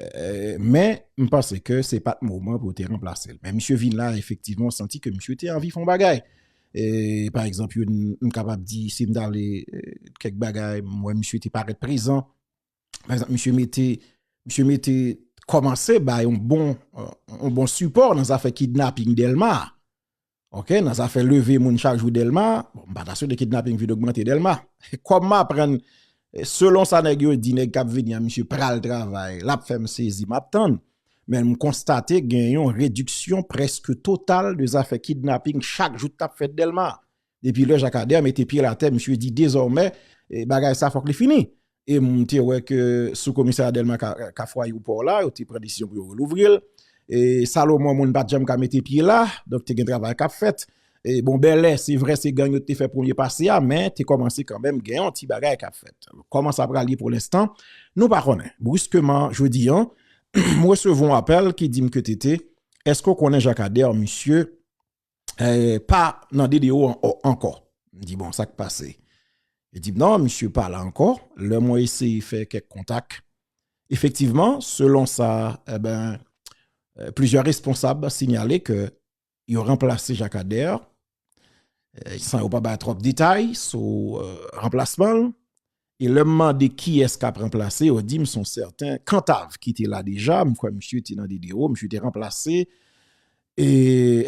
Euh, men, m panse ke se pat moman pou te remplase l. Men, misye vin la, efektivman, santi ke misye te anvi fon bagay. E, pa ekzamp, yon m kapab di, si m dale euh, kek bagay, m wè misye te paret prezan. Pa ekzamp, misye mete, misye mete, komanse ba yon bon, yon euh, bon support nan zafè kidnapping Delma. Ok, nan zafè leve moun chak jou Delma, m pa ta swete kidnaping vin ogmante Delma. Kòm m aprann, selon sa nèg yo di, nèg k ap vini an, misye pral travay, l ap fè m sezi, m ap tann. Men m konstate gen yon rediksyon prèske total de zafè kidnaping chak jou k ap fèt Delma. Depi lè Jakadè mete pye l atè, misye di dezòmè bagay sa fòk li fini. E m te wè ke sou komisarya Dèlma Kafway ou Pò la, yo te pran desizyon pou yo relouvri l. E Salomon moun pa t janm ka mete pye la, donk te gen travay k ap fèt. E bon Bèlè, se vre se gang yo te fè premye pase a, men te kòmanse kanmenm gen yon ti bagay k ap fèt. Kòman sa pral ye pou lenstan, nou pa konnen. Briskeman, jodi an, m resevwa yon apèl ki di m ke TT, èske ou konnen Jakadè, misye, eh, pa nan DDO an, oh, ankò. M di bon, sa k pase? Li di m non, misye pa la ankò. Lè mwen eseye fè kèk kontak, efektivman, selon sa, eben, eh, plizyè responsab sinyale ke yo ranplase Jacques Ader, eh, san yo pa bay twòp detay sou, eh, ranplasman l. E lè m mande kiyès k ap ranplase yo di m s on sèten Kantav ki te la deja, m kwè misye te nan Diderot, misye te ranplase e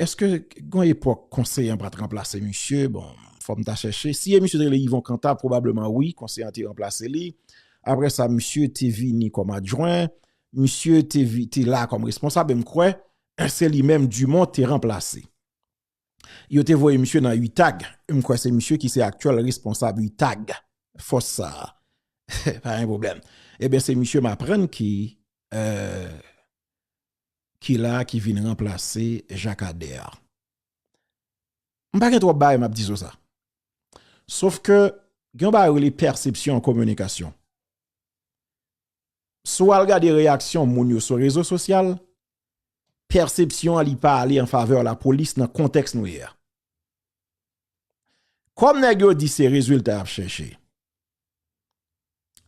èske gen yon epòk konseye an pa t ranplase misye? Bon, fò m ta chèche. Si e misye te rele Yvon Kantav pwobableman wi, konseye an te ranplase li. Apre sa misye te vini kòm adjwen, misye te la kòm responsab e m kwè se li menm Dumont te ranplase. yo te voye misye nan UTAG, m kwè se misye ki se aktyèl responsab UTAG, fòs sa a, pa gen pwoblèm, e ben se misye m aprann ki la ki vin ranplase Jacques Ader. M pa gen twòp bagay m ap di sou sa, sof ke gen yon bagay yo rele pèsepsyon an kominikasyon. si w al gade reyaksyon moun yo sou rezo sosyal, pèsepsyon an li pa ale an favè lapolis nan kontèks nou ye a. Kòm nèg yo di se rezilta y ap chèche,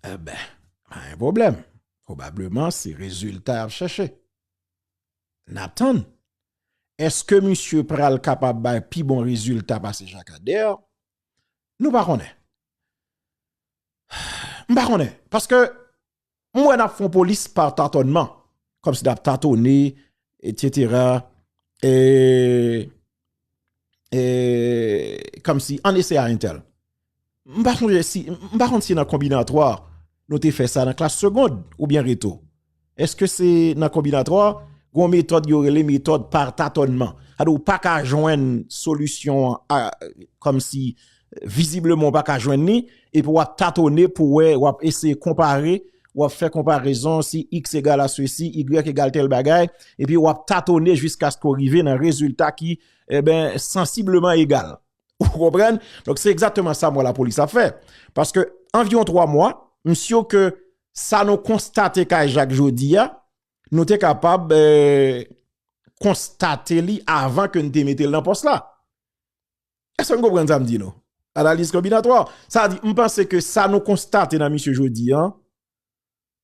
e ben, pa gen pwoblèm, pwobableman se rezilta y ap chèche. N ap tann, eske misye pral kapab bay pi bon rezilta pase Jakadè, nou pa konnen. M pa konnen, paske m wè n ap fon polis pa tatònman, kòmsi n ap tatone, etsetera, eee, eee, kòmsi, an ese a entèl. M pa sonje si, m pa konn si nan konbinatwa, nou te fè sa nan klas segond, oubyen reto. Eske se nan konbinatwa a, gen yon metòd yo rele metòd par tatònman. Sa di ou pa ka jwenn solisyon an kòm si vizibleman ou pa ka jwenn ni, epi w ap tatone pou wè, w ap eseye konpare, w ap fè konparezon si x egal a sesi, y egal tèl bagay, epi w ap tatone jiskaske ou rive nan rezilta ki, eben, sansibleman egal. Ou konprann? Donk se egzatteman sa mwen la polis ap fè. Paske anviron 3 mwa, msio ke sa nou konstate kay jak jodi ya, nou te kapab konstate li avan ke nou te mete l nan pos la. Eske nou konprann sa m di nou? Analiz kombinatwa. Sa di, m panse ke sa nou konstate nan msio jodi ya,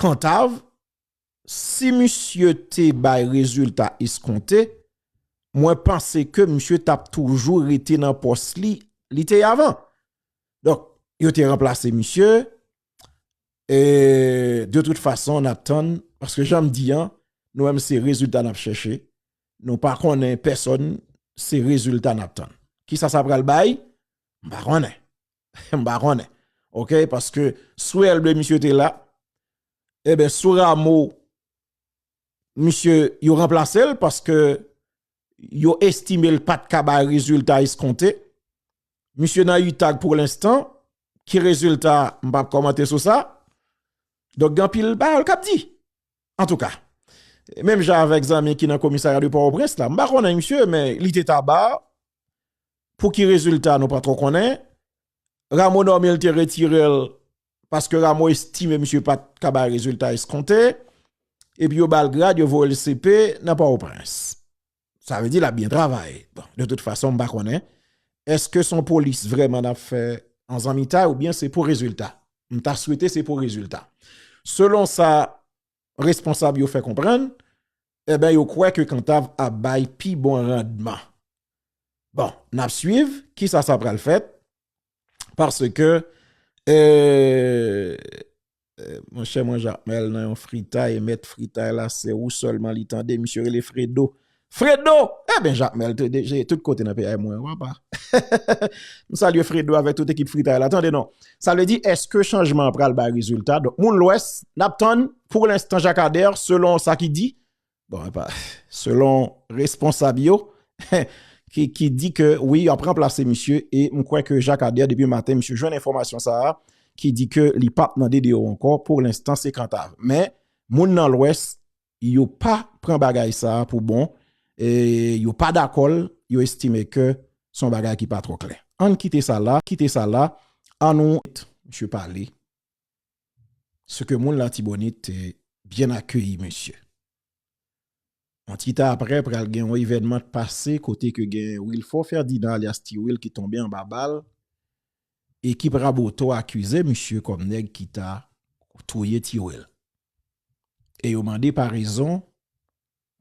Kantav, si misye te bay rezilta eskonte, mwen panse ke misye tap toujou rete nan pòs li, li te avan. Donk, yo te ranplase misye, e de tout fason an ap tann, paske janm di an, nou menm se rezilta nap chèche, nou pa konnen pèsòn, se rezilta nap tann. Kisa sa pral bay? M pa konnen. M pa konnen. Ok, paske sou elbe misye te la, ebe eh sou ramo, misye yo remplase l, paske yo estime l pat kaba rezultat eskonte. Misye nan yi tag pou l enstan, ki rezultat m pap komante sou sa. Dok gen pil ba al kap di. An tou ka, menm jan avek zanmi ki nan komisarya de pa w prens la, m pa konnen misye, men li te taba, Pouki rezilta nou pa tro konnen. Rameau Normil te retire l paske Rameau estime misye pa t ka bay rezilta eskonte. Epi yo ba l grad, yo voye l CP nan Pòtoprens. Sa vle di l ap byen travay. Bon, de tout fason m pa konnen. Eske son polis vreman n ap fè an zanmitay oubyen se pou rezilta? M ta swete se pou rezilta. Selon sa responsab yo fè konprann, Enben yo kwè ke kantav ap bay pi bon randman. Bon, n ap swiv ki sa sa pral fèt. Paske, mon chè mwen Jakmèl nan yon fritay, mèt fritay la se ou sèlman li tande, misye rele Fredo. Fredo! Enben Jakmèl te deje tout kote nan peyay mwen, wap a. M salye Fredo avèk tout ekip fritay la. Tande non, sa vle di eske chanjman pral bay rezilta? Donk moun lwès, n ap tann Pou l'instant Jacadère, selon sa ki di, bon, epa, selon responsab yo, ki di ke, oui, yo ap remplase misye, e m kwè ke Jacadère, depi maten, misye jwenn enfomasyon sa a, ki di ke li pap nan DDO anko, pou l'instant se Cantave. Men, moun nan l'Ouest, yo pa pran bagay sa a pou bon, e yo pa dakol, yo estime ke son bagay ki pa tro klè. An kite sa la, kite sa la, an nou, misye pale, ce que moun latibonit te byen akeyi mesye. Yon ti tan aprè pral gen yon evènman k pase kote ke gen Wilfort Ferdinand alyas Ti Wil ki tonbe anba bal, ekip Raboto akize misye kòm nèg ki ta touye Ti Wil. E yo mande parezon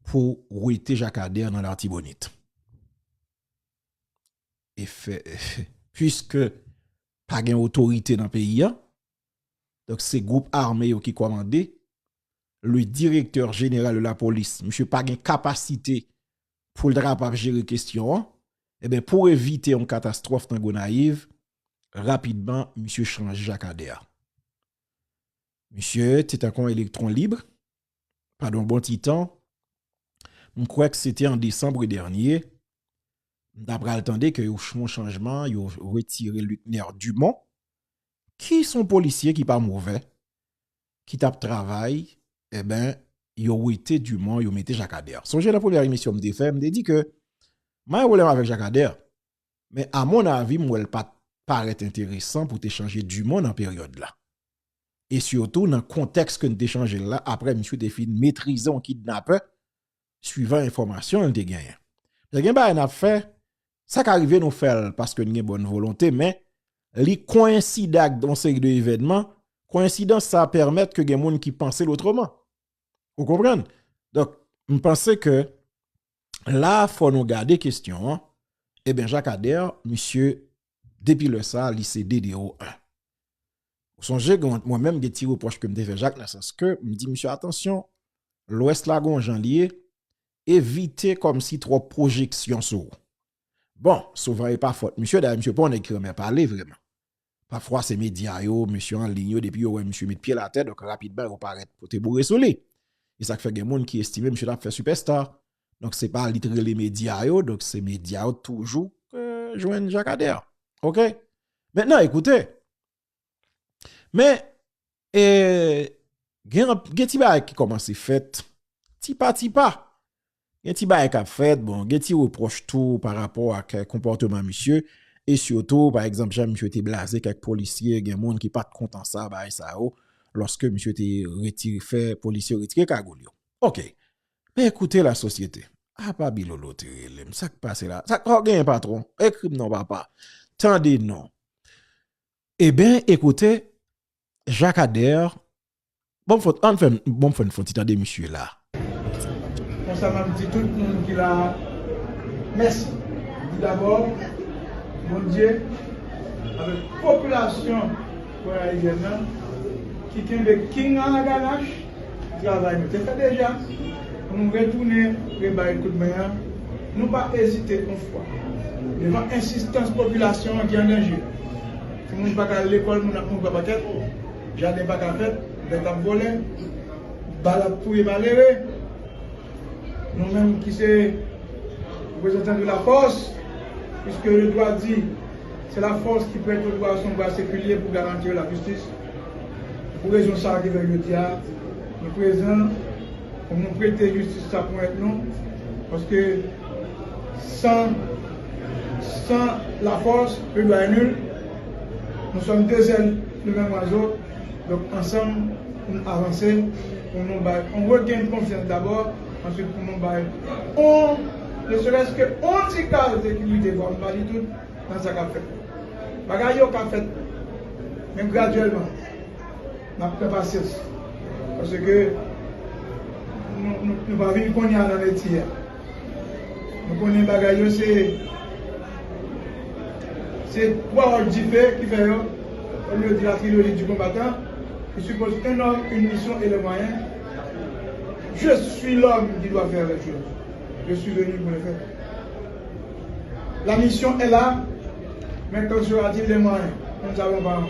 pou wete Jacadère nan Lartibonite. E fè, pwiske pa gen otorite nan peyi an, donk se gwoup ame yo ki kòmande, le direktè jeneral de la polis, misye pa gen kapasite pou l ta kapab jere kestyon an, e ben pou evite yon katastwòf nan Gonayiv, rapidman misye chanje Jacadère. Misye te tankou yon elektron libre, padon bon ti tan, m kwè k se te an desanbre dènye, m ta pral tande ke yo fon chanjman, yo retire Luckner Dumont, ki son polisye ki pa movè, ki t ap travay, eben, yo wete Dumont, yo mete Jacques Ader. Sonje nan premyè emisyon m te fè, m te di ke m pa gen pwoblèm avèk Jacques Ader, Men a mon avi m wè l pa t parèt enteresan pou te chanje Dumon nan peryòd la. E sitou nan kontèks ke n te chanje l la apre misye te fin metrize yon kidnapè swivan enfòmasyon l te genyen. Lè gen bagay n ap fè, sa ka rive nou fè l paske n gen bòn volonte men li koyenside ak yon seri de evènman, koyensidans sa pèmèt ke gen moun ki panse l otreman. Ou konprann? Donk m panse ke la fò nou gade kestyon an, e ben Jacadère, misye, depi lè sa li se DDO 1. Ou sonje gen mwen menm gen ti repwòch ke m te fè Jacques nan sans ke m di misye atansyon, lwès la gon jan li ye, evite kòm si twòp pwojeksyon sou ou. Bon, souvan e pa fòt misye, dayè misye pa yon nèg ki renmen pale vreman. Pafwa se medya yo, mesye an liy yo depi yo wè misye met pye l atè donk rapidman yo parèt pote boure sou li. E sa k fè gen moun ki estime misye ta fè sipèsta. Donk se pa li t rele medya yo donk se medya yo toujou k jwenn Jakadè. Ok. Mentnan ekoute. Men gen ti bagay ki kòmanse fèt, ti pa ti pa, gen ti bagay kap fèt, bon, gen ti reproch tou pa rapò ak konpòteman misye, e siyotou, pa egzanp, jan misye te blaze kèk polisye, gen moun ki pat kontan sa, bagay sa yo, lòske misye te retire, fè polisye retire kagoul yo. Ok, men ekoute la sosyete, a pa Bilolo te rele m, sak pase la, sak pa genyen patwon, ekri m non papa, tande non. E ben, ekoute, Jacques Ader, bon fon, an fèm, bon fèm fon ti tande misye la. Konsa map di tout moun ki la mèsi. Di dabò Bondye avèk popilasyon gonayivyèn nan ki kenbe king lan a ganach pou travay nou te fè deja pou nou retounen rebay kout men an, nou pa ezite yon fwa devan ensistans popilasyon an ki an danje. Timoun pa ka al lekòl, moun ap mouri pa pakèt, jaden pa ka fèt, bèt ap vole, bal ap touye malere. Nou menm ki se reprezantan de la fòs, piske le dwa di, se la fòs ki prèt o dwa son bwa sekilye pou garantir la jistis. Pou rezon sa a ki fè jodi a nou prezan pou nou prete jistis sa pou èt nou, paske. San San la fòs le dwa è nul Nou sòm de zèl de menm wazo Donk ansanm pou n avanse Pou nou bay on regenn konfyans dabò Answit pou nou bay on Ne serès ke on ti kal sekirite Vwa m pa di tout nan sa k ap fèt Bagay yo ka fèt Men gradyèlman Nap fè pasyans paske nou pa vin konya nan metye a. Nou konnen bagay yo se se twa wòch dife ki fè yo kòm yo di la trilogie du combattant qui suppose un homme, une mission et les moyens Je suis l'homme qui doit faire les choses Je suis venu pour les faire La mission est là mais quand sera-t-il les moyens Nous ne savons pas encore.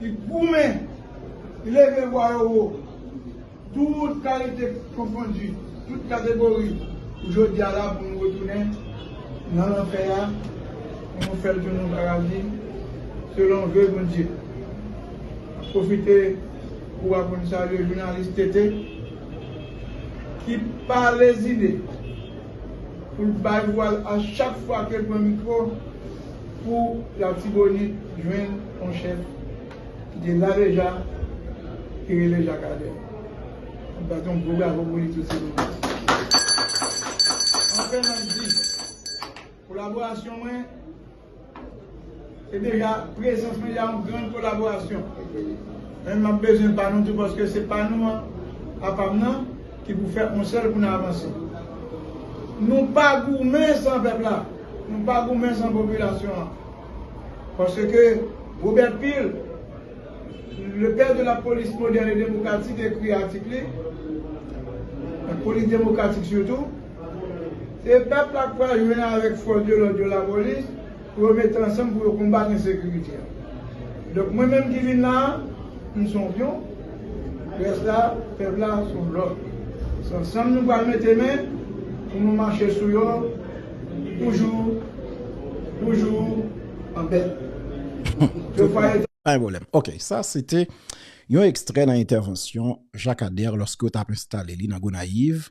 Li goumen, li leve vwa yo wo, tout kalite konfondi, tout kategori, pou jodi a la pou nou retounen nan lanfè a, pou nou fè l tounen yon paradi, selon ve Bondye. M ap pwofite kou a pou m salye jounalis TT, ki pa lezine pou l bay vwa l a chak fwa ke l pran mikwo. pou latibonit jwenn yon chèf ki te la deja ki rele Jacques Ader nap bat yon gwo bravo pou li tout silvouplè anfen nap di kolaborasyon mwen se deja prezans mwen yon gran kolaborasyon men map bezwen pa nou tou paske se pa nou an apam nan. Ki pou fè yon sèl pou n avanse. Nou pa goumen san pèp la, nou pa goumen san popilasyon an. Paske Robert Peel, le père de la police moderne et démocratique ekri atik li, la police démocratique surtout, se pèp la k pral jwenn avèk fòs de lòd yo, lapolis, Pou yo mete ansanm pou yo konbat ensekirite a. Donk mwen menm ki vin la a, m son pyon, rès la, pèp la, son lòt. Se ansanm nou pral mete men pou nou mache sou yo toujou, toujou an bèt. Ke fwa yo ta. Pa gen pwoblèm. Ok, sa se te yon ekstrè nan entèvansyon Jacques Ader lòske yo t ap enstale li nan Gonayiv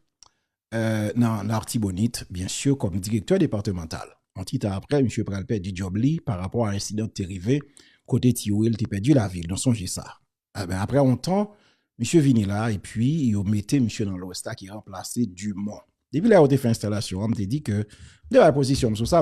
nan Lartibonit, byen sur, kòm direktè departemantal. Yon ti tan aprè, misye pral pèdi djòb li pa rapò a ensidan k te rive kote ti Will te pèdi lavi l, nou sonje sa. Enben, aprè yon tan, misye vini la epi yo mete misye nan lwès la ki ranplase Dumont. Depi lè yo te fè enstalasyon an, m te di ke m te bay pozisyon m sou sa.